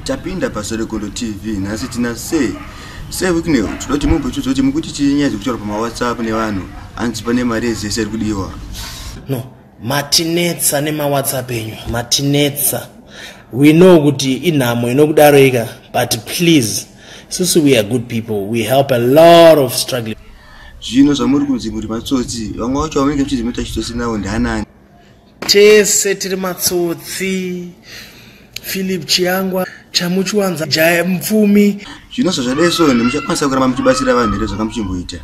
Tapinda paSorekolo TV nhasi tina Sir Sir Wicknell tinoda kuti mumbo tiudze kuti mukuti chii nyaya dziri kutaurwa pamaWhatsApp nevanhu hanzi pane mari yezese iri kudiwa. No, matinetsa nemaWhatsApp enyu matinetsa we know kuti inhamo inokudaroika but please susu we are good people we help a lot of struggling zvino zvamuri kunzi muri matsotsi vamwe vacho vamunenge muchizimuita chitsotsi nawo ndianani tese tiri matsotsi philip chiangwa chamuchiwanza jaya mupfumi zvino zvazvadai so ende muchakwanisa kuramba muchibatsira vanhu here zvakamuchimboita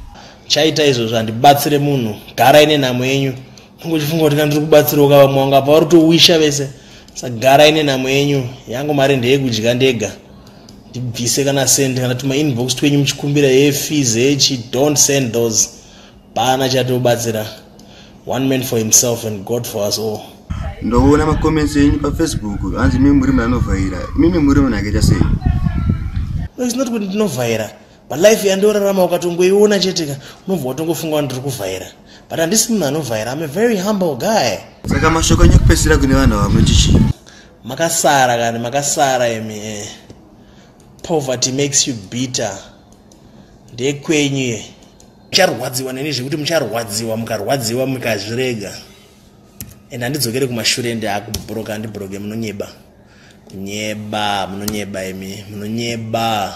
chaita izvozvo handibatsire munhu garai nenhamo yenyu unge uchifunga kuti kandiri kubatsira uka vamwe wanga pavari kutowisha vese sagarai nenhamo yenyu yangu mari ndeyekudya ndega ndibvise kana send kana tuma inbox twenyu muchikumbira yefees hechi don't send those paana chatobatsira one man for himself and god for us all ndoona macomments enyu pafacebook hanzi mimi muri munanovhaira mimi muri munhu akaita sei no its not kuti ndinovhaira but life yandiorarama ukatongoiona cheteka unobva watongofunga wa ndiri kuvhaira but handisi munhu anovhaira im a very humble guy saka mashoko enyu kupesira kune vanhu ava munotichii makasara kani makasara imi eh. poverty makes you bitter ndekwenyu ye mucharwadziwa neni zvekuti mucharwadziwa mukarwadziwa mukazvirega and handidzokere kumashure ende akubroka andibroke munonyeba kunyeba munonyeba imi munonyeba